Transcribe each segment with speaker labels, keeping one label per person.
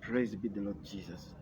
Speaker 1: Praise be the Lord Jesus.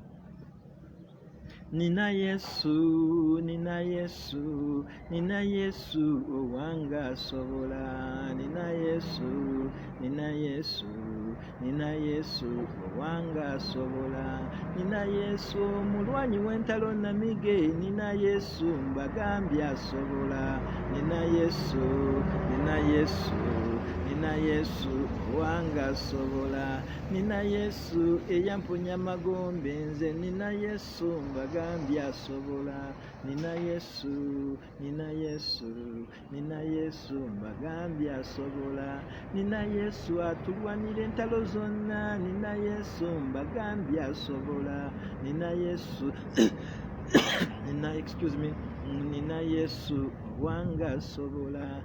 Speaker 1: Nina Yesu, Nina Yesu, Nina Yesu, owanga sobola. Nina Yesu, Nina Yesu, Nina Yesu, owanga sobola. Nina Yesu, mulwanyi w'entalo namige. Nina Yesu, mbagambye asobola. Nina Yesu, Nina Yesu, Nina Yesu, owanga sobola. Nina Yesu eyamponya magombe nze nina Yesu mbagambye asobola nina Yesu nina Yesu nina Yesu mbagambye asobola nina Yesu atulwanira entalo zonna nina Yesu mbagambye asobola nina Yesu nina excuse me nina Yesu wange asobola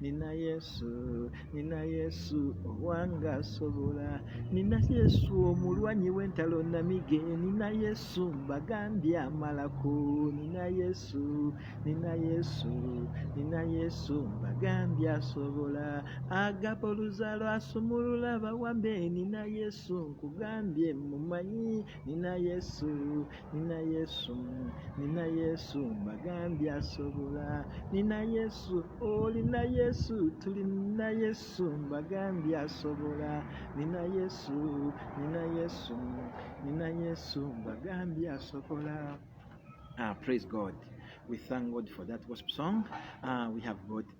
Speaker 1: Nina Yesu, Nina Yesu owanga asobola. Nina Yesu omulwanyi w'entalo namige. Nina Yesu mbagambye amalako. Nina Yesu, Nina Yesu, Nina Yesu mbagambye asobola. Agaba oluzalo asumulula abawambe. Nina Yesu nkugambye mumanyi. Nina Yesu, Nina Yesu, Nina Yesu, Magambi asobola. Nina Yesu, oh Nina Yesu, tuli Nina Yesu, Magambi asobola. Nina Yesu, Nina Yesu, Nina Yesu, Magambi asobola. Ah, praise God. We thank God for that worship song. Uh, we have got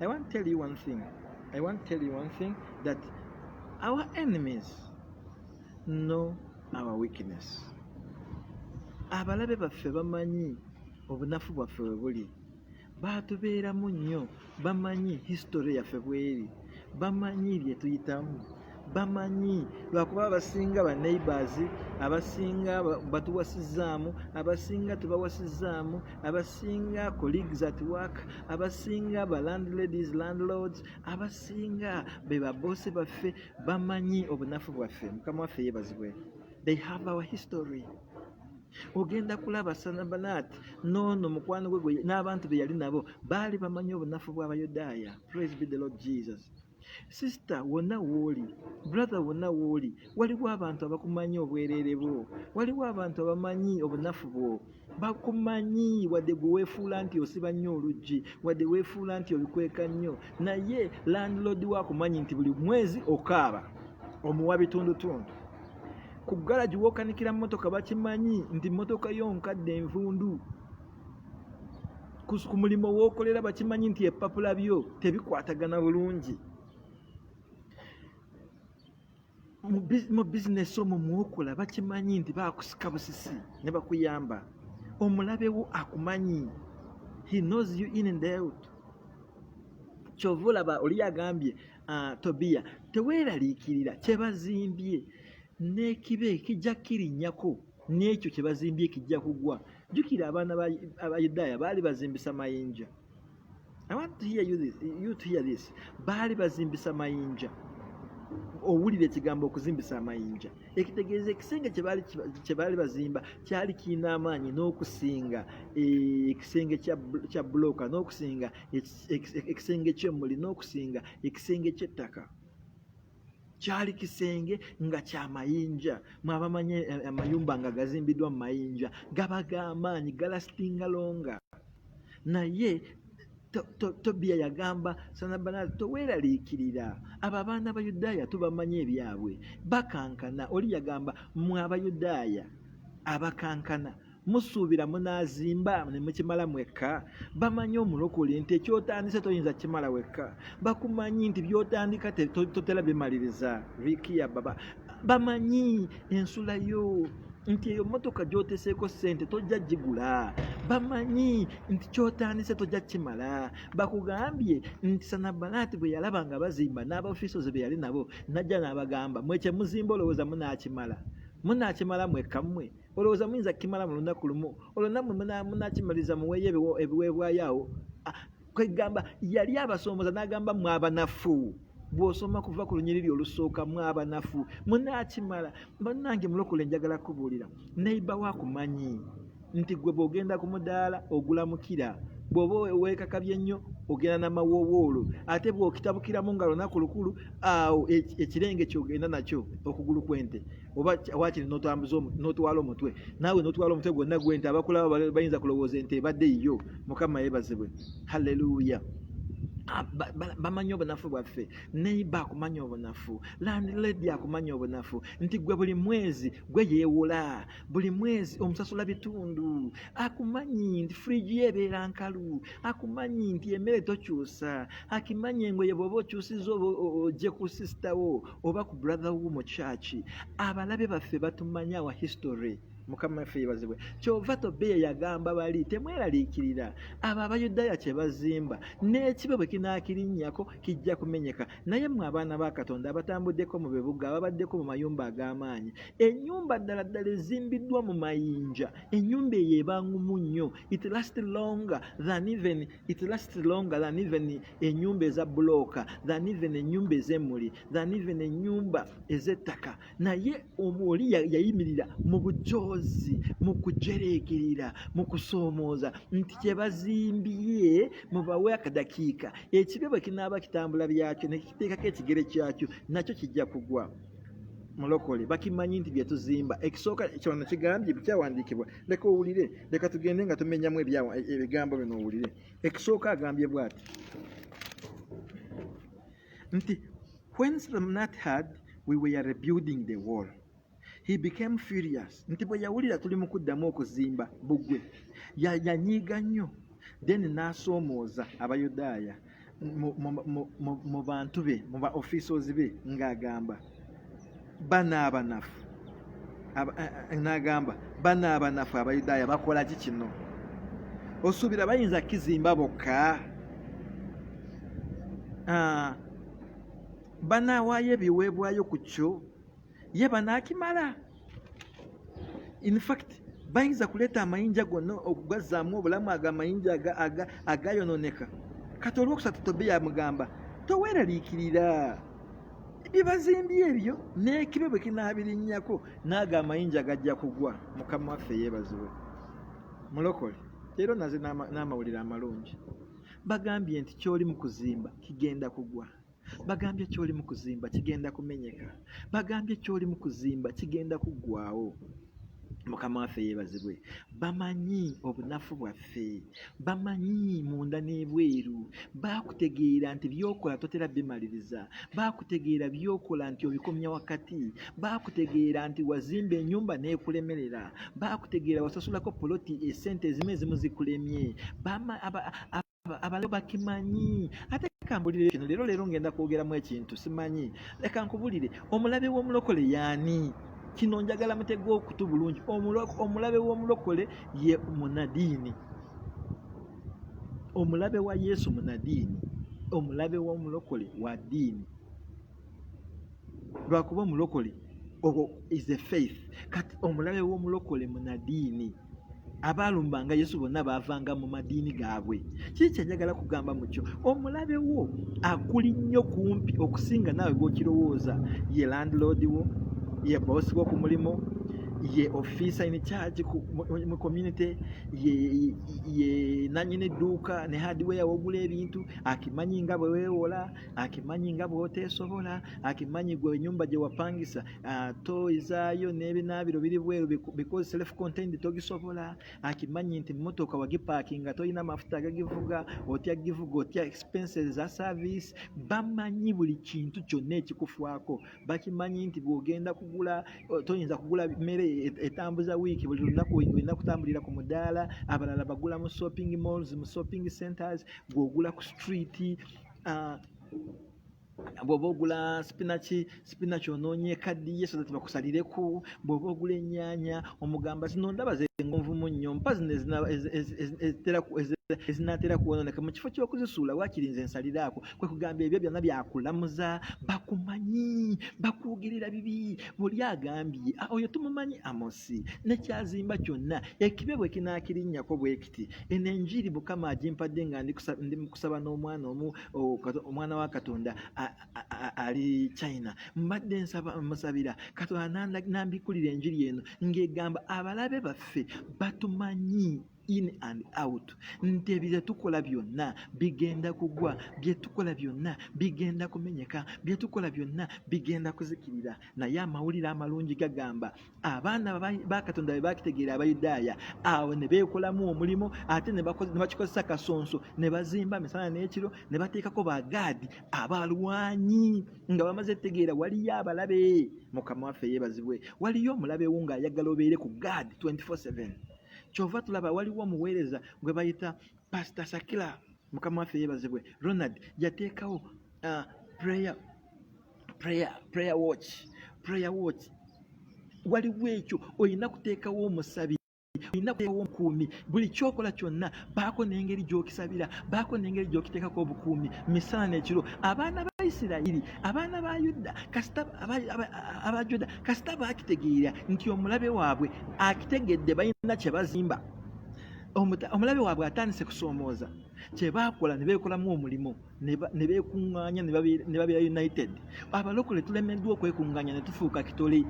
Speaker 1: I want to tell you one thing. I want to tell you one thing that our enemies know our weakness. Abalabe baffe bamanyi obunafu bwaffe we buli baatubeeramu nnyo bamanyi history yaffe bweri bamanyi bye tuyitamu bamanyi lwakuba abasinga ba neighbors abasinga batuwasizaamu abasinga tebawasizaamu abasinga colleagues at work abasinga ba landladies landlords abasinga be babosi baffe bamanyi obunafu bwaffe mukama waffe yebazibwe they have our history ogenda kulaba sanabalaati noono mukwano gwe n'abantu be yali nabo baali bamanyi obunafu bw'abayudaaya praise be the lord jesus sisita wonna wooli brother wonna wooli waliwo abantu abakumanyi obwereere bwo waliwo abantu abamanyi obunafu bwo bakumanyi wadde gwe weefuula nti osiba nnyo oluggi wadde weefuula nti obikweka nnyo naye landlodi wo akumanyi nti buli mwezi okaaba omuwa bitundutundu ku garagi wokanikira motoka bakimanyi nti motoka yo nkadde envundu ku mulimo wookolera bakimanyi nti ebipapula byo tebikwatagana bulungi mu bizinesi omwo mwokola bakimanyi nti bakusika busisi ne bakuyamba omulabewo akumanyi he knows you in and out kyova olaba oli agambye ah, tobiya teweeraliikirira kyebazimbye n'ekibe kijja kirinyako n'ekyo kye bazimbye kijja kugwa jjukira abaana abayudaaya baali bazimbisa mayinja i want to hear you this, you to hear this. baali bazimbisa mayinja owulira ekigambo okuzimbisa amayinja ekitegeeza ekisenge kye baali bazimba kyali kirina amaanyi n'okusinga e, ekisenge kya bulooka n'okusinga ekisenge ky'emmuli n'okusinga ekisenge ky'ettaka kyali kisenge nga kya mayinja mwabamanye eh, eh, amayumba nga gazimbiddwa mu mayinja gaba g'amaanyi galasitinga longa naye tobiya yagamba sanabanazi toweeraliikirira abo abaana abayudaaya tubamanyi ebyabwe bakankana oli yagamba mwe abayudaaya abakankana musuubira munaazimba ne mukimala mwekka bamanyi omulokole nti ekyotandise toyinza kimala wekka bakumanyi nti byotandika totera bimaliriza rikiya baba bamanyi ensula yo nti eyo motoka gyoteseeko ssente tojja gigula bamanyi nti kyotandise tojja kimala bakugambye nti sanabalaati bwe yalaba nga bazimba n'abafisozi be yali nabo najja n'abagamba mwekyemuzimba olowooza munaakimala munaakimala mwekka mmwe muna olowooza muyinza kukimala mu lunaku lumu olwo nammwe munakimaliza muweeyo ebiweebwayo awo ah, kwegamba yali abasomboza n'agamba mwe abanafu bw'osoma kuva ku lunyiriri olusooka mwe abanafu munaakimala bannange mulokole njagala kubuulira neiba wakumanyi nti gwe bw'ogenda ku mudaala ogulamukira bw'oba weekakabye nnyo ogenda namawoowoolo ate bw'okitabukiramu nga lunaku lukulu awo ekirenge kyogenda nakyo okugulu kw'ente oba wakiri notwala omutwe naawe notwala omutwe gwonna gwe nti abakulaba bayinza kulowooza ente ebadde yiyo mukama yebazibwe halleluya Ah, bamanyi obunafu bwaffe neiba akumanya obunafu landlady akumanya obunafu nti gwe buli mwezi gwe yeewola buli mwezi omusasula bitundu akumanyi nti fridge ye ebeera nkalu akumanyi nti emere tokyusa akimanyi engoye bwoba okyusiza oje ku sisitawo oba ku brother wo mu church abalabe baffe batumanya wa history mukama waffe yebazibwe kyova tobiya yagamba bali temweraliikirira abo abayudaaya kyebazimba n'ekibe bwe kinaakirinnyako kijja kumenyeka naye mwe abaana ba katonda abatambuddeko mu bibuga ababaddeko mu mayumba ag'amaanyi ennyumba ddala ddala ezimbiddwa mu mayinja ennyumba eyo ebangumu nnyo it last longer than even it lasts longer than even enyumba eza bulooka than even enyumba ezemuli than even enyumba ezettaka naye oli yayimirira mu bujoozi mu kujereekerera mu kusoomooza nti kyebazimbye mubawe akadakiika ekibe bwe kinaaba kitambula byakyo nekiteekako ekigere kyakyo nakyo kijja kugwa mulokole bakimanyi nti byetuzimba ekisooka kyono nakigambye bikyawandiikibwa leka owulire leka tugende nga tumenyamu ebigambo bino owulire ekisooka agambye bwati nti when slamnat had we were rebuilding the wall he became furious nti bwe yawulira tuli mu kuddamu okuzimba bugwe yanyiiga nnyo then n'asoomooza abayudaaya ya mu bantu be mu ba officials be ng'agamba bano abanafu eh, eh, n'agamba bano abanafu abayudaaya bakola ki kino osuubira bayinza kizimba bokka ah, banaawaayo ebiweebwayo ku kyo ye banaakimala in fact bayinza kuleeta amayinja gonna okugazzaamu obulamu ago amayinja agayononeka kati olwokusatu tobe yamugamba toweraliikirira bibazimbye ebyo n'ekibe bwe kinaabirinnyako naago amayinja gajja kugwa mukama waffe yeebaziwe mulokole leero naze n'amawulire amalungi bagambye nti ky'oli mu kuzimba kigenda kugwa bagambye kyoli mu kuzimba kigenda kumenyeka bagambye kyoli mu kuzimba kigenda kuggwawo mukama waffe yeebazibwe bamanyi obunafu bwaffe bamanyi munda n'ebweru baakutegeera nti byokola totera bimaliriza baakutegeera byokola nti obikomya wakati baakutegeera nti wazimba enyumba n'ekulemerera baakutegeera wasasulako poloti esente ezimu ezimu zikulemye abalayo bakimanyi ate kambulire kino leero leero ngenda kwogeramu ekintu simanyi leka nkubulire omulabe w'omulokole yaani kino njagala mutega okutu bulungi omulabe w'omulokole ye munadiini omulabe wa yesu munadiini omulabe w'omulokole wa diini lwakuba omulokole is a faith kati omulabe w'omulokole munadiini abaalumbanga yesu bonna baavanga mu madiini gaabwe kiki kyenjagala kugamba mu kyo omulabe wo akuli nnyo kumpi okusinga naawe gwokirowooza ye landiloodi wo ye boosi wo ku mulimu ye ofiisa in charge mu community ye nanyini dduuka ne hadiweya wogula ebintu akimanyi nga bwe weewola akimanyi nga bw'oteesobola akimanyi gwe enyumba gye wapangisa Ah, toyi zaayo n'ebinaabiro biri bweru because self contained togisobola akimanyi nti mmotoka wagipaakinga tolina mafuta agagivuga otya givuga otya expenses za service bamanyi buli kintu kyonna ekikufwako bakimanyi nti bw'ogenda kugula oh, toyinza kugula mmere e, etambuza wiiki buli lunaku olina kutambulira ku mudaala abalala bagula mu shopping malls mu shopping centers gw'ogula ku street uh, bw'oba ogula sipinaki sipinaki onoonya ekaddiye so that bakusalireko bw'oba ogula ennyanya omugamba zino ndaba zengonvumu nnyo mpa zino ezinaatera kwonooneka mu kifo ky'okuzisuula waakiri nze nsalireako kwe kugamba ebyo byonna byakulamuza bakumanyi bakuwugirira bibi buli agambye oyo tumumanyi amosi nekyazimba kyonna ekibe bwe kinaakirinnyako bweki eno enjiri mukama agimpadde nga ndi mukusaba n'omwana omu omwana wa katonda ali china mbadde musabira katonda nambikulira enjiri eno ng'egamba abalabe baffe batumanyi in and out nti ebyo tukola byonna bigenda kugwa byetukola byonna bigenda kumenyeka byetukola byonna bigenda kuzikirira naye amawulire amalungi gagamba abaana bakatonda be bakitegeera abayudaaya awo ne beekolamu omulimu ate ne bakikozesa kasonso ne bazimba misana n'ekiro ne bateekako bagaadi abalwanyi nga bamaze tegeera waliyo abalabe mukama waffe yeebazibwe waliyo omulabe wo ng'ayagala obeere ku gaadi 24/7 kyova tulaba waliwo omuweereza gwe bayita pasita sakila mukama waffe yeebazibwe ronald yateekawo ah, prayer prayer prayer watch prayer watch waliwo ekyo olina kuteekawo omusabi olina kuteekawo omukuumi buli kyokola kyonna baako n'engeri gy'okisabira baako n'engeri gy'okiteekako obukuumi misana n'ekiro abaana ba isirayiri abaana ba yuda kasita aba juda kasita baakitegeera nti omulabe waabwe akitegedde balina kye bazimba omulabe waabwe atandise kusoomooza kye baakola ne beekolamu omulimu ne beekuŋŋaanya ne babeera united abalokole tulemeddwa okwekuŋŋaanya ne tufuuka kitole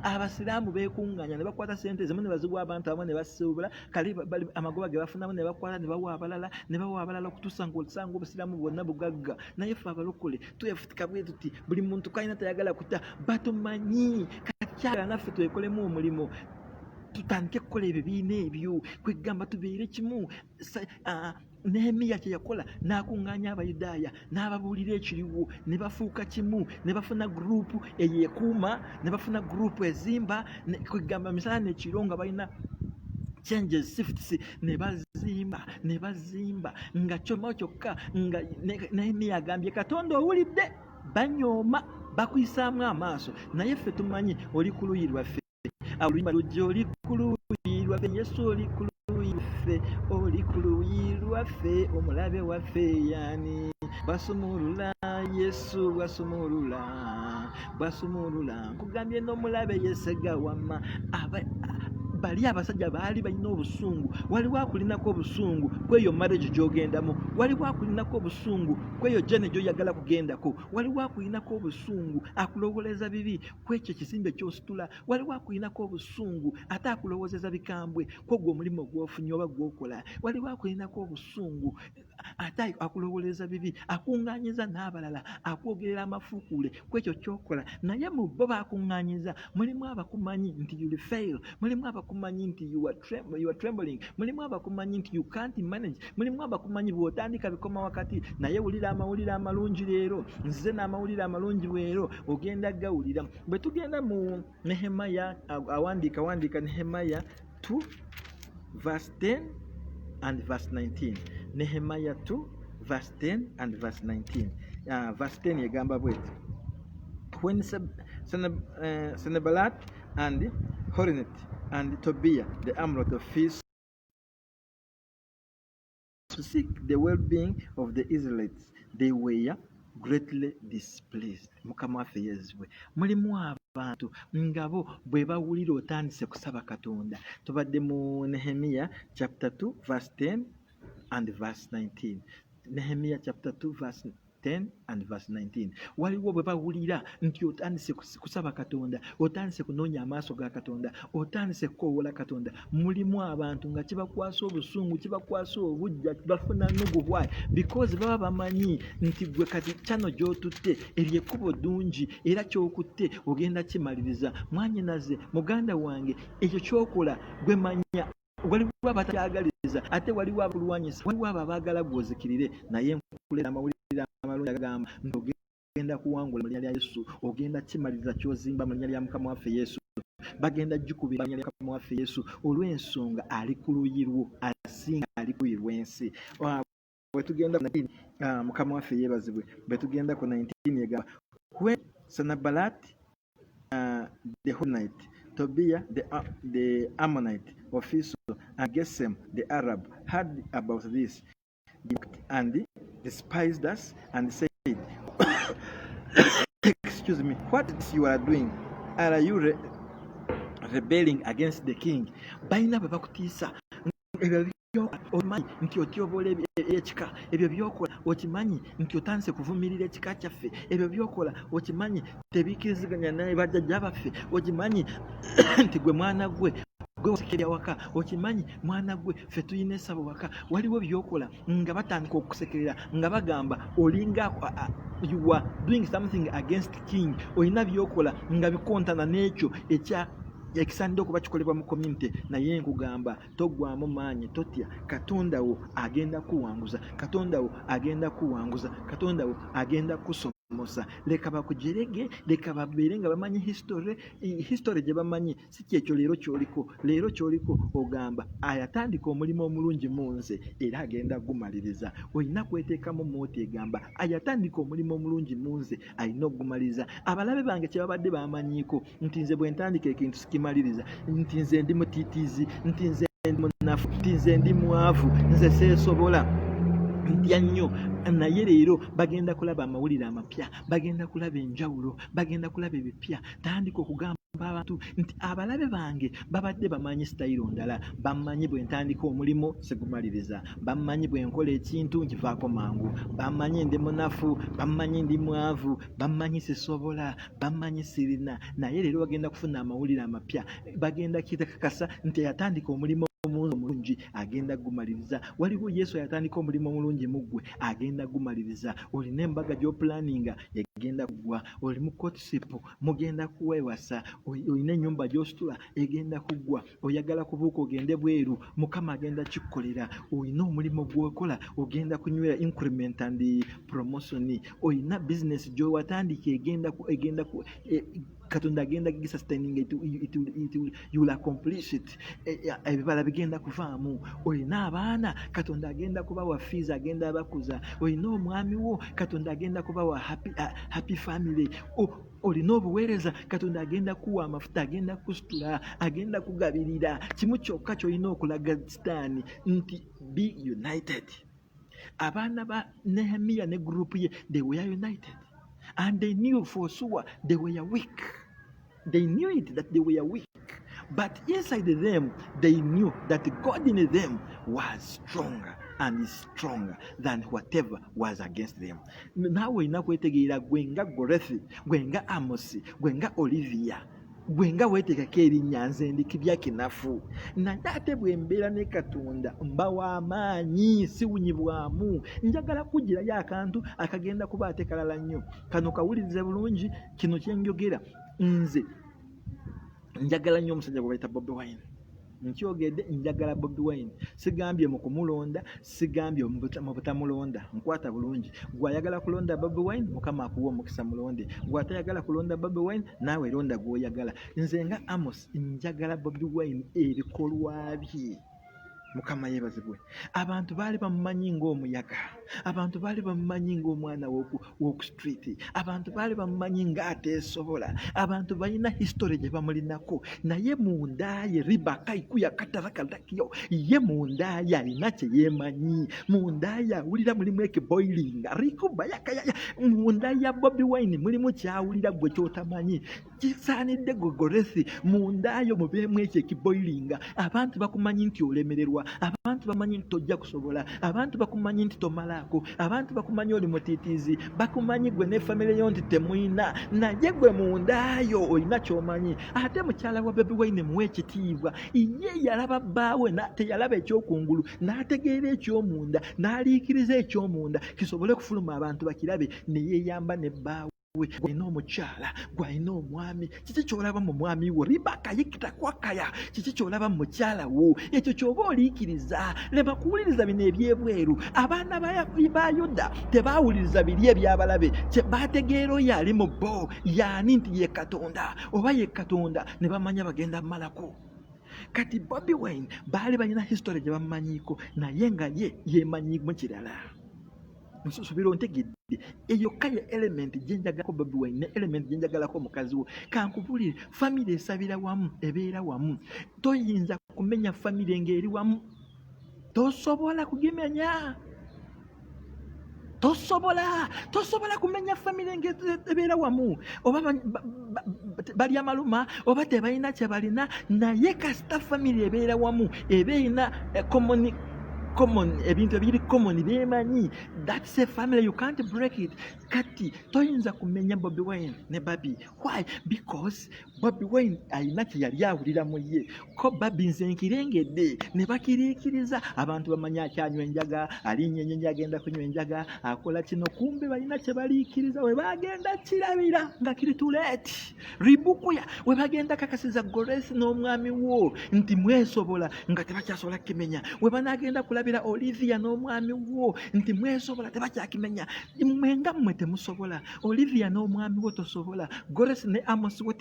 Speaker 1: abasiraamu beekuŋŋaanya ne bakwata sente zimu ne baziwa abantu abamu ne basuubula kale amagoba ge bafunamu ne bakwata ne bawa abalala ne bawa abalala okutuusa nga osanga obusiraamu bwonna bugagga naye ffe abalokole twefutika bwe tuti buli muntu kalina tayagala kuta batumanyi kakyala naffe twekolemu omulimu tutandike kukola ebibiina ebyo kwegamba tubeere kimu nehemiya kye yakola n'akuŋŋaanya abayudaaya n'ababuulira ekiriwo ne bafuuka kimu ne bafuna guruupu eyekuuma ne bafuna guruupu ezimba kwegamba misala nekiro nga balina changes shifts ne bazimba ne bazimba nga kyoma kyokka nga nehemiya agambye katonda owulidde banyooma bakuyisaamu amaaso naye ffe tumanyi oli ku luyi lwaffe oluyimba lujja oli ku luuyi lwaffe yesu oli ku luuyi lwaffe oli ku luuyi lwaffe omulabe waffe yani basumulula yesu basumulula basumulula nkugambye n'omulabe yesega wamma bali abasajja baali balina obusungu waliwo akulinako obusungu kweyo marriage gyogendamu waliwo akulinako obusungu kweyo jane gyoyagala kugendako waliwo akulinako obusungu akulowoleza bibi ku ekyo ekizimbe ky'ositula waliwo akulinako obusungu ate akulowoozeza bikambwe kwogwo omulimu gwofunye oba gwokola waliwo akulinako obusungu ate akulowooleza bibi akuŋŋaanyiza n'abalala akwogerera amafuukuule ku ekyo kyokola naye mu bo bakuŋŋaanyiza mulimu abakumanyi nti you fail mulimu abakumanyi nti you are trembling mulimu abakumanyi nti you can't manage mulimu abakumanyi bwotandika bikoma wakati naye wulira amawulire amalungi leero nzize n'amawulire amalungi bweero ogenda gawulira bwe tugenda mu nehemaya awandiika wandiika nehemaya 2 verse 10 and verse 19 nehemaya 2 verse 10 and verse 19 uh, verse 10 egamba bweti when eh, senebalat and horinet and tobia the amrot of feast to seek the well-being of the Israelites they were greatly displeased mukama waffe yezibwe mulimu abantu ngabo bwe bawulira otandise kusaba katonda tubadde mu nehemiya chapter 2 verse 10 and verse 19 nehemiya chapter 2 verse 10 and verse 19 waliwo bwe bawulira nti otandise kusaba katonda otandise kunoonya amaaso ga katonda otandise kukowoola katonda mulimu abantu nga kibakwasa obusungu kibakwasa obujja bafuna nugu why because baba bamanyi nti gwe kati kyano gyotutte eryo ekkubo ddungi era kyokutte ogenda kimaliriza mwanyinaze muganda wange ekyo kyokola gwe manya waliwo abatakyagaliza ate waliwo abakulwanyisa waliwo abo abaagala gwozikirire naye nkulera amawulire amalungi agamba nti ogenda kuwangula mu linya lya yesu ogenda kimaliriza kyozimba mu linya lya mukama waffe yesu bagenda jukubira linya lya mukama waffe yesu olw'ensonga ali ku luyi lwo asinga ali ku luyi lw'ensi bwetugenda ku 19 ah, mukama waffe yebazibwe bwetugenda ku 19 yegamba when sanabalat uh, the honite tobia the, uh, the ammonite ofiso and gesem the arab had about this and despised us and said excuse me what you are doing are you re rebelling against the king balina bwe bakutiisa okimanyi nti otyoboola ekika ebyo byokola okimanyi nti otandise kuvumirira ekika kyaffe ebyo byokola okimanyi tebikiriziganya naye bajjajja baffe okimanyi nti gwe mwana gwe gwe wasekerya waka okimanyi mwana gwe ffe tulina esabo waka waliwo byokola nga batandika okusekerera nga bagamba olinga you are doing something against king olina byokola nga bikontana n'ekyo ekya ekisaanidde okuba kikolebwa mu community naye nkugamba toggwamu maanyi totya katonda wo agenda kuwanguza katonda wo agenda kuwanguza katonda wo agenda kusoma musa leka bakujerege leka babeere nga bamanyi history history gye bamanyi si kyekyo leero kyoliko leero kyoliko ogamba ayatandika omulimu omulungi mu nze era agenda gumaliriza olina kweteekamu mooti egamba ayatandika omulimu omulungi mu nze alina okugumaliriza abalabe bange kyebabadde bamanyiiko nti nze bwentandika ekintu sikimaliriza nti nze ndi mutitizi nti nze ndi munafu nti nze ndi mwavu nze seesobola mpya nnyo naye leero bagenda kulaba amawulire amapya bagenda kulaba enjawulo bagenda kulaba ebipya tandika okugamba abantu nti abalabe bange babadde bamanyi sitayiro ndala bamanyi bwe ntandika omulimu sigumaliriza bammanyi bwe nkola ekintu nkivaako mangu bammanyi ndi munafu bammanyi ndi mwavu bammanyi sisobola bammanyi sirina naye leero bagenda kufuna amawulire amapya bagenda kitakakasa nti yatandika omulimu omuwuzi omulungi agenda gumaliriza waliwo yesu ayatandika omulimu omulungi mu ggwe agenda gumaliriza olina embaga gy'opulaninga egenda kuggwa oli mu kotisipu mugenda kuwewasa olina ennyumba gy'ositula egenda kuggwa oyagala kubuuka ogende bweru mukama agenda kikukolera olina omulimu gwokola ogenda kunywera increment and promotion olina business gyowatandika egenda egenda e, katonda agenda gisustaining youll accomplish it e, e, ebibala bigenda kuvaamu olina abaana katonda agenda kubawa fees agenda abakuza olina omwami wo katonda agenda kubawa happy, uh, happy family oh, olina obuweereza katonda agenda kuwa amafuta agenda kusitula agenda kugabirira kimu kyokka kyolina okulaga sitaani nti be united abaana ba nehemiya ne gurupu ye they were united and they knew for sure they were weak they knew it that they were weak But inside them, they knew that God in them was stronger and is stronger than whatever was against them. Naawe olina kwetegeera gwe nga Gorethi, gwe nga Amosi, gwe nga Olivia gwe nga weetekako erinnya nze ndi kibya kinafu naye ate bwe mbeera ne katonda mba w'amaanyi siwunyibwamu njagala kugirayo akantu akagenda kuba ate kalala nnyo kano kawulirize bulungi kino kyenjogera nze njagala nnyo omusajja gwe bayita bobi wine nkyogedde njagala bobi wine sigambye mu kumulonda sigambye mu butamulonda nkwata bulungi gwayagala kulonda bobi wine mukama akuwa omukisa mulonde gwatayagala kulonda bobi wine naawe londa gwoyagala nze nga amos njagala bobi wine ebikolwa bye mukama yeebazibwe abantu baali bamumanyi ng'omuyaga abantu baali bamumanyi ng'omwana woku street abantu baali bamumanyi ng'ateesobola abantu balina history gye bamulinako naye mundaaye ribakaiku yakatarakalakyo ye mundaaye alina kye yeemanyi mundaaye awulira mulimu ekiboilinga rikuba yakayaya mundaaye ya bobi wine mulimu kyawulira gwe kyotamanyi kisaanidde gwe goresi mundaayo mubeemu ekyo ekiboilinga abantu bakumanyi nti olemererwa abantu bamanyi nti tojja kusobola abantu bakumanyi nti tomalaako abantu bakumanyi oli mutitiizi bakumanyi gwe ne famire yo nti temuyina naye gwe mundaayo olina kyomanyi ate mukyala wa bebi waine muwa ekitiibwa ye yalaba bbaawe teyalaba ekyokungulu n'ategeera ekyomunda n'aliikiriza ekyomunda kisobole okufuluma abantu bakirabe neyeyamba ne bbaawe we gwalina omukyala gwalina omwami kiki kyolaba mu mwami wo ribaka yikita kwakaya kiki kyolaba mu mukyala wo ekyo kyoba oliikiriza lema kuwuliriza bino ebyebweru abaana ba yuda tebaawuliriza biri ebyabalabe baategeera oyo ali mu bo yaani nti ye katonda oba ye katonda ne bamanya bagenda mumalako kati bobi wine baali balina history gye bamumanyiiko naye nga ye yemanyimu kirala nsubira ontegedde eyo kale elementi gyenjagalako bobi wine ne elementi gyenjagalako omukazi wo kankubulire famire esabira wamu ebeera wamu toyinza kumenya famire ng'eri wamu tosobola kugimenya tosobola tosobola kumenya famire ngebeera wamu oba balya maluma oba tebalina kyebalina naye kasita famire ebeera wamu eba erina eh, common ebintu ebiri common bemanyi that's a family you can't break it kati toyinza kumenya bobi wine ne babi why because bobi wine alina kyeyali awulira mu ye ko babi nze nkirengedde ne bakiriikiriza abantu bamanyi akyanywa enjaga alinya enyenyi agenda kunywa enjaga akola kino kumbe balina kyebaliikiriza we bagenda kirabira nga kiri tuleeti ribukuya we bagenda kakasiza goresi n'omwami wo nti mwesobola nga tebakyasobola kukimenya we banagenda kulabira olivia n'omwami wo nti mwesobola tebakyakimenya mwe nga mmwe temusobola olivia n'omwami wo tosobola goresi ne amosi wo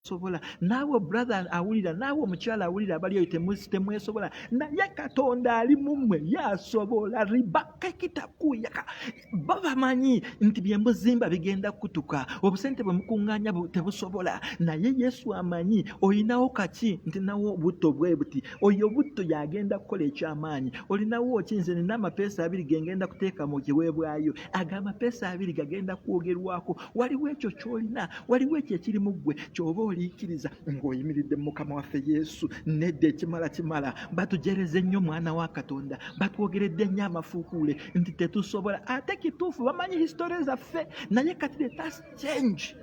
Speaker 1: sobola naawe brother awulira naawe omukyala awulira abali oyo temwesobola naye katonda ali mummwe yasobola ribakekitakuuyaka bo bamanyi nti bye muzimba bigenda kutuka obusente bwe mukunganya tebusobola naye yesu amanyi olinawo kaki nti nawo obutto bwe buti oyo obutto yagenda kukola ekyamaanyi olinawo ki nze nina amapeesa abiri gengenda kuteeka mu kiweebwayo ago amapeesa abiri gagenda kwogerwako waliwo ekyo kyolina waliwo ekyo ekiri mu ggwe kyoba oliikiriza ng'oyimiridde mu mukama waffe yesu nedda ekimala kimala batujereze nnyo mwana wa katonda batwogeredde nnyo amafuukuule nti tetusobola ate kituufu bamanyi hisitore zaffe naye kati the tas change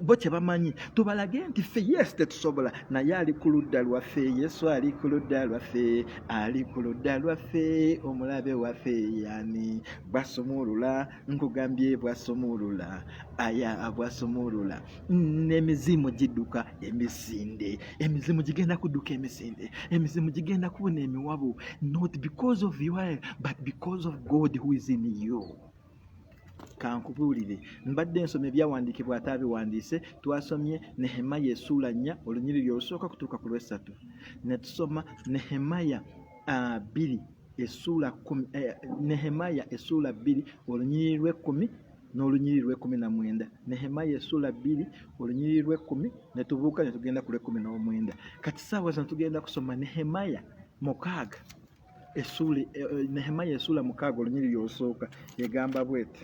Speaker 1: bo kyebamanyi tubalage nti ffe yes tetusobola naye ali ku ludda lwaffe yesu ali ku ludda lwaffe ali ku ludda lwaffe omulabe waffe yani basumulula nkugambye bwasumulula aya bwasumulula n'emizimu gidduka emisinde emizimu gigenda kudduka emisinde emizimu gigenda kubuna emiwabu not because of you but because of god who is in you kankubuulire mbadde nsoma ebyawandiikibwa ate abiwandiise twasomye nehemaya esuula nnya olunyiriri olusooka kutuuka ku lwessatu ne tusoma nehemaya ah, bbiri uh, essuula kumi eh, nehemaya essuula bbiri olunyiriri lw'ekkumi n'olunyiriri lw'ekkumi na mwenda nehemaya essuula bbiri olunyiriri lw'ekkumi ne tubuuka ne tugenda ku lw'ekkumi n'omwenda kati saawa zino tugenda kusoma nehemaya mukaaga essuula eh, eh, nehemaya essuula mukaaga olunyiriri olusooka egamba bwete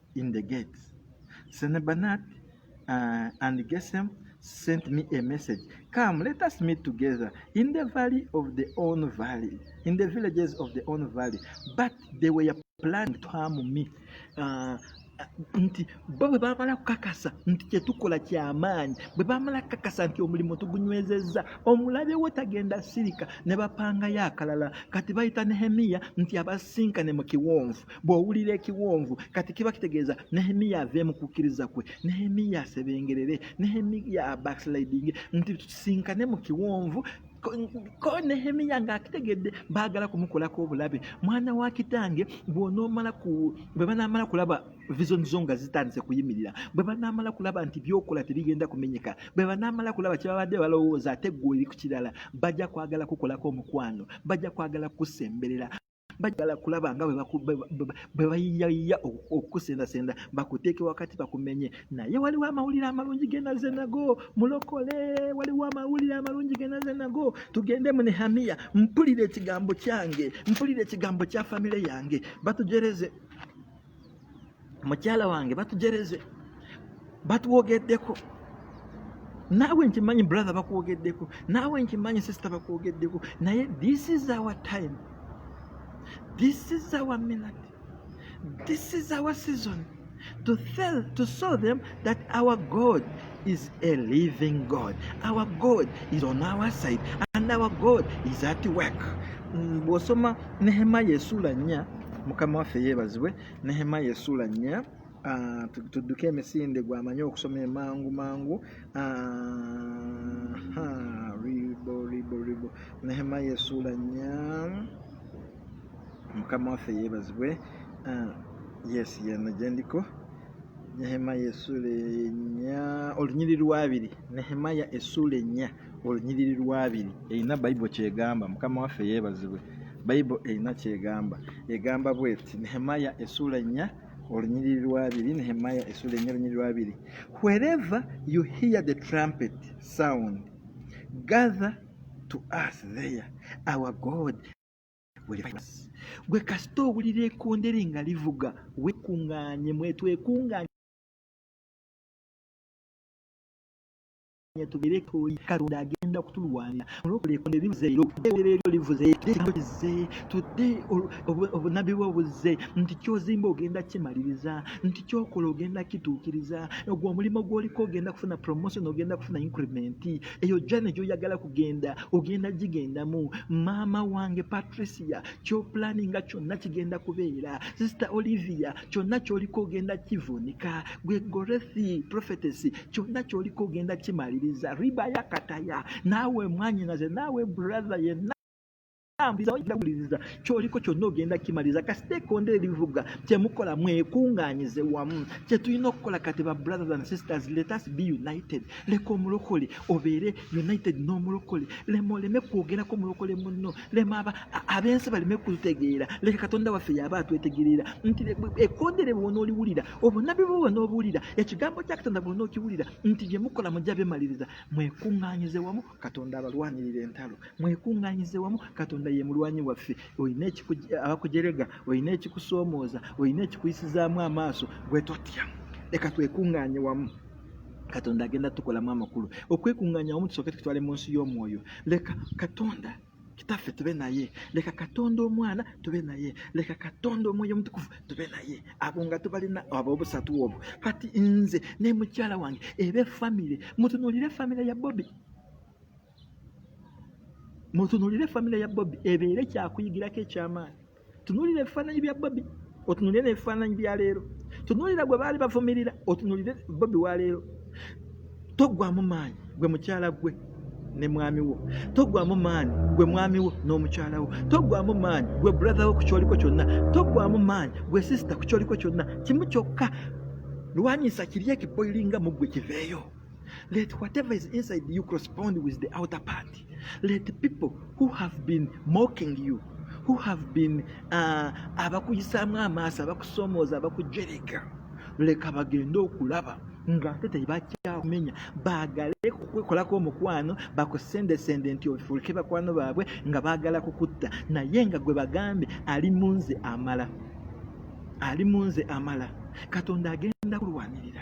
Speaker 1: in the gate. Senebanat uh, and Gesem sent me a message. Come, let us meet together in the valley of the own valley, in the villages of the own valley. But they were planning to harm me. Uh, nti bo bwe baamala kukakasa nti kyetukola kyamaanyi bwe baamala kukakasa nti omulimu tugunywezezza omulabe wo tagenda sirika ne bapangayo akalala kati bayita nehemiya nti abasinkane mu kiwonvu bw'owulira ekiwonvu kati kiba kitegeeza nehemiya ave mu kukkiriza kwe nehemiya asebengerere nehemiya backsliding nti tusinkane mu kiwonvu ko nehemiya ng'akitegedde baagala kumukolako obulabe mwana wa kitange bwonoomala ku bwe banaamala kulaba vision zo nga zitandise kuyimirira bwe banaamala kulaba nti byokola tebigenda kumenyeka bwe banaamala kulaba kyebabadde balowooza ate gwe eri ku kirala bajja kwagala kukolako omukwano bajja kwagala kukusemberera bajala kulaba nga bwe bayiyayiya okukusendasenda bakuteeke wakati bakumenye naye waliwo amawulire amalungi genaze nago mulokole waliwo amawulire amalungi genaze nago tugende mu nehamiya mpulira ekigambo kyange mpulira ekigambo kya famire yange batujereze mukyala wange batujereze batwogeddeko naawe nkimanyi brother bakwogeddeko naawe nkimanyi sister bakwogeddeko naye this is our time this is our minute this is our season to tell to show them that our god is a living God. Our God is on our side and our God is at work. Mm, bw'osoma Nehemiah esuula nnya mukama waffe yeebazibwe Nehemiah esuula nnya ah, tudduke emisinde gwamanyi okusoma emangu mangu ah, ribo ribo ribo Nehemiah esuula nnya mukama waffe yeebazibwe ah, yes yeno gyendiko nehemaya essuula enya olunyiri lwabiri nehemaya essuula ennya olunyiriri lwabiri erina bayibo kyegamba mukama waffe yeebazibwe bayibo erina kyegamba egamba bweti nehemaya essuula ennya olunyiriri lwabiri nehemaya essuula ennya olunyiriri lwabiri wherever you hear the trumpet sound gather to us there our god gwe kasita owulira ekondere nga livuga wekunganye mwetwekunganye tubere toyi katonda agenda kutulwanira olwokola ekonde livuze ero ebere eryo livuze ekigambo kize tudde obunabbi bwe buzze nti kyozimba ogenda kimaliriza nti kyokola ogenda kituukiriza ogwo omulimu gwoliko ogenda kufuna promotion ogenda kufuna increment eyo jane gyoyagala kugenda ogenda gigendamu maama wange patricia kyoplaninga kyonna kigenda kubeera sister olivia kyonna kyoliko ogenda kivunika gwe gorethi prophetesy kyonna kyoliko ogenda kimaliriza ribayakataya naawe mwanyinaze naawe brother yenna tambuliza wajja kuwuliriza kyoliko kyonna ogenda kimaliza kasiteekonda ebivuga kyemukola mwekunganyize wamu kyetulina okukola kati ba brothers and sisters let us be united leka omulokole obeere united n'omulokole lema oleme kwogerako omulokole munno lema ab'ensi baleme kutegeera leka katonda waffe yaba atwetegereera nti ekondere bwona oliwulira obunabi bwe bwona obuwulira ekigambo kya katonda bwona okiwulira nti gyemukola mujja bemaliriza mwekunganyize wamu katonda abalwanirira entalo mwekuŋŋanyize wamu katonda ye mulwanyi waffe olina abakujerega olina ekikusoomooza olina ekikuyisizaamu amaaso gwe totya leka twekuŋŋanye wamu katonda agenda tukolamu amakulu okwekuŋŋanya wamu tusooke tukitwale mu nsi y'omwoyo leka katonda kitaffe tube naye leka katonda omwana tube naye leka katonda omwoyo omutukuvu tube naye abo nga tubalina abo obusatu obwo kati nze ne mukyala wange ebe famire mutunulire famire ya bobi mutunulire famire ya bobi ebeere kyakuyigirako ekyamaani tunuulira ebifaananyi bya bobi otunuulire n'ebifaananyi bya leero tunuulira gwe baali bavumirira otunuulire bobi wa leero toggwamu maanyi gwe mukyala gwe ne mwami wo toggwamu maanyi gwe mwami wo n'omukyala wo toggwamu maanyi gwe buratha wo ku kyoliko kyonna toggwamu maanyi gwe sisita ku kyoliko kyonna kimu kyokka lwanyisa kiri ekiboilinga mu gwe kiveeyo Let whatever is inside you correspond with the outer part. Let the people who have been mocking you, who have been uh, abakuyisaamu amaaso abakusomooza abakujereka leka bagende okulaba ng'ate tebakyakumenya baagale kukwekolako omukwano bakusendesende nti ofuuke bakwano baabwe nga baagala kukutta naye nga gwe bagambe ali mu nze amala ali mu nze amala katonda agenda kulwanirira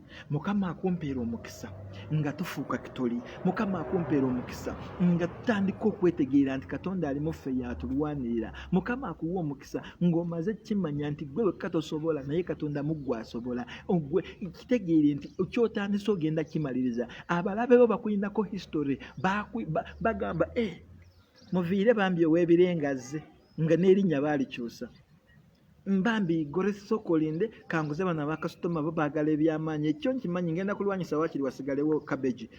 Speaker 1: mukama akumpeera omukisa nga tufuuka kitoli mukama akumpeera omukisa nga tutandika okwetegeera nti katonda ali muffe yatulwanirira mukama akuwa omukisa ng'omaze kimanya nti gwe wekka tosobola naye katonda muggwe asobola ogwe kitegeere nti kyotandise ogenda kimaliriza abalabe bo bakulinako history bagamba e eh, muviire bambi ow'ebirengazze nga n'erinnya baalikyusa mbambi gore sokolinde kanguze bana bakasitoma bo bagala ebyamaanyi ekyo nkimanyi ngenda kulwanyisa wakiri wasigalewo cabbage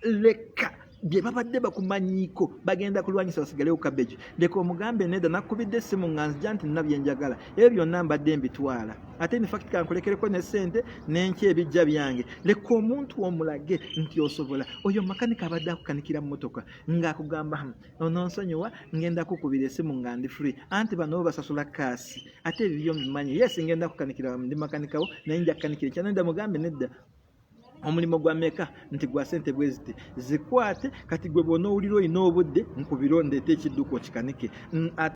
Speaker 1: leka bye babadde bakumanyiiko bagenda kulwanyisa wasigalewo cabbage leka omugambe neda nakubidde essimu nga nzija nti nina byenjagala ebyo byonna mbadde mbitwala ate infact kankulekereko ne sente nenky ebijja byange leka omuntu omulage nti osobola oyo makanika abadde akukanikira mumotoka ngaakugamba hmm, ononsonyiwa ngenda kukubira esimu nga ndi free anti bano bo basasula kaasi ate ebibyo mbimanyi yes ngenda kukanikira ndi makanikawo naye nja kukanikira ekyanenda mugambe nedda omulimu gwa meka nti gwa sente bweziti zikwate kati gwe bwonaowulira olina obudde nkubiro ndeeta ekidduka okikanike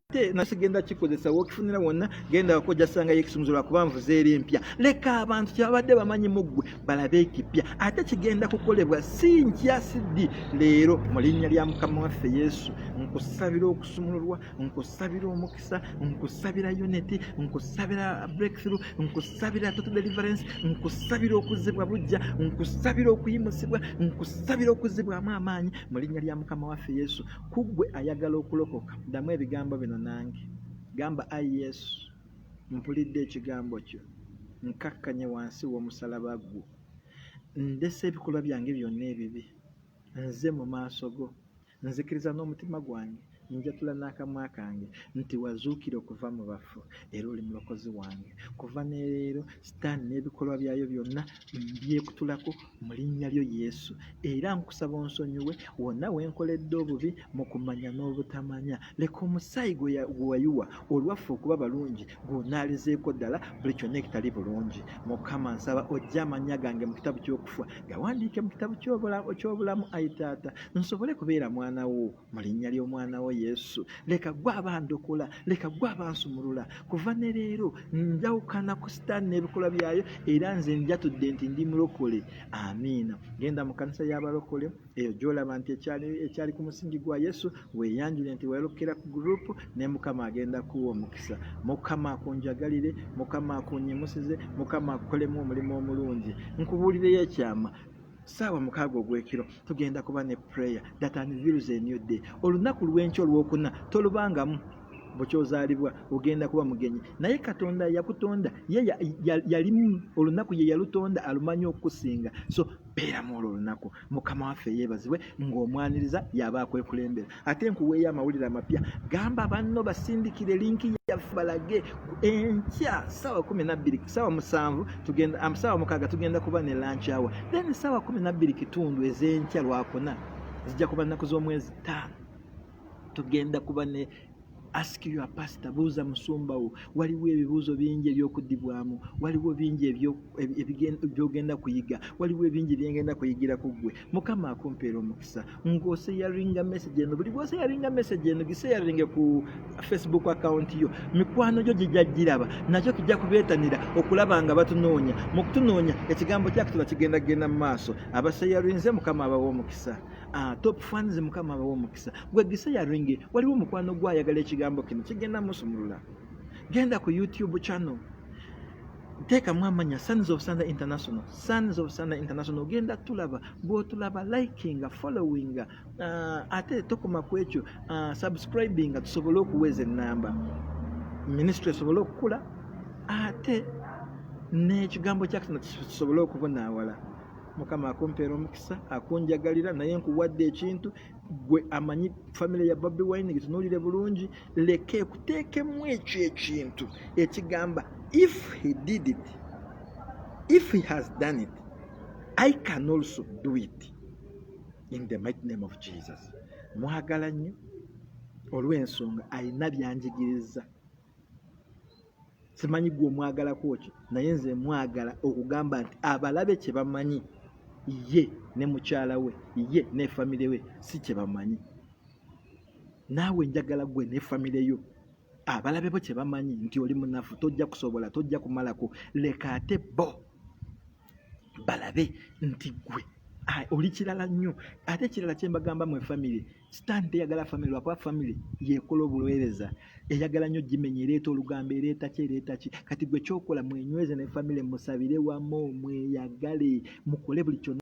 Speaker 1: ate nasigenda kikozesa wokifunira wonna genda wako jasangayo ekisumuzo lwakuba nvuze eri empya leka abantu kyebabadde bamanyi mu ggwe balabe ekipya ate kigenda kukolebwa si nkya siddi leero mu linnya lya mukama waffe yesu nkusabira okusumululwa nkusabira omukisa nkusabira unity nkusabira breakthrough nkusabira total deliverance nkusabira okuzibwa bujja nkusabira okuyimusibwa nkusabira okuzibwamu amaanyi mu linnya lya mukama waffe yesu kuggwe ayagala okulokoka ddamu ebigambo bino nange gamba ai yesu mpulidde ekigambo kyo nkakkanye wansi w'omusalaba gwo ndese ebikolwa byange byonna ebibi nze mu maaso go nzikiriza n'omutima gwange njatula n'akamwa kange nti wazuukira okuva mu bafu era oli mulokozi wange kuva neleero sitaani n'ebikolwa byayo byonna mbyekutulako mu linnya lyo Yesu era nkusaba onsonyiwe wonna we nkoledde obubi mu kumanya n'obutamanya leka omusaayi gwe wayiwa olwaffe okuba balungi gw'onaalizeeko ddala buli kyonna ekitali bulungi mukama nsaba ojja amannya gange mu kitabu ky'okufa gawandiike mu kitabu ky'obulamu ayi taata nsobole kubeera mwana wo mu linnya ly'omwana wo yesu leka gwe abandokola leka gwe abansumulula kuva ne leero njawukana ku sitaani n'ebikolwa byayo era nze njatudde nti ndi mulokole amiina genda mu kanisa y'abalokole eyo gyolaba nti ekyali ku musingi gwa yesu weeyanjule nti weerokera ku gurupu ne mukama agenda kuwa omukisa mukama akunjagalire mukama akunyimusize mukama akukolemu omulimu omulungi nkubuulireyo ekyama saawa mukaaga ogw'ekiro tugenda kuba ne prayer that unveils a new day olunaku lw'enkya olwokuna tolubangamu bukyozaalibwa ogenda kuba mugenyi naye katonda yakutonda ye yalimu olunaku ye yalutonda alumanyi okukusinga so beeramu olwo olunaku mukama waffe yeebazibwe ng'omwaniriza yaba akwekulembera ate nkuweeyo amawulire amapya gamba banno basindikire linki yaffe balage enkya saawa kumi nabbiri saawa musanvu tugenda um, saawa mukaaga tugenda kuba ne lanki awa then saawa kumi nabbiri kitundu ez'enkya lwakuna zijja kuba nnaku z'omwezi ttaano tugenda kuba ne ask your pastor buuza musumba wo waliwo ebibuuzo bingi ebyokudibwamu waliwo bingi byogenda kuyiga waliwo ebingi byengenda kuyigira ku ggwe mukama akumpeera omukisa ngaoseyaringa message eno buli bwoseyaringa message eno giseyaringe ku facebook account yo mikwano gyo gijja giraba nakyo kijja kubeetanira okulaba nga batunoonya mu kutunoonya ekigambo kyakitula kigenda kugenda mu maaso abaseyarinze mukama abawa omukisa ah, top fans mukama abawa omukisa gwe disayaringi waliwo mukwano gwe ayagala ekigambo kino kigenda musumulula genda ku youtube channel teekamu amanya sons of sunday international sons of sunday international ogenda tulaba bwotulaba likinga followinga uh, ate tokoma ku ekyo uh, subscribinga tusobole okuweeza ennamba minisitule esobole okukula ate n'ekigambo kyakisana kisobole okubonaawala mukama akumpeera omukisa akunjagalira naye nkuwadde ekintu gwe amanyi famire ya bobi wine gitunulire bulungi leka ekuteekemu ekyo ekintu ekigamba if he did it if he has done it i can also do it in the mighty name of jesus mwagala nnyo olw'ensonga alina byanjigiriza simanyi gwe omwagalako ki naye nze mwagala okugamba nti abalabe kye bamanyi ye ne mukyala we ye ne famire we si kye bamanyi naawe njagala gwe ne famire yo abalabe bo kye bamanyi nti oli munafu tojja kusobola tojja kumalako leka ate bo balabe nti gwe oli kirala nnyo ate ekirala kye mbagamba mu efamire sitaani teyagala famire lwakuba famire yekola obuweereza eyagala nnyo gimenya ereeta olugambo ereeta ki ereeta ki kati gwe kyokola mwenyweze ne famire musabire wamu mweyagale mukole buli kyona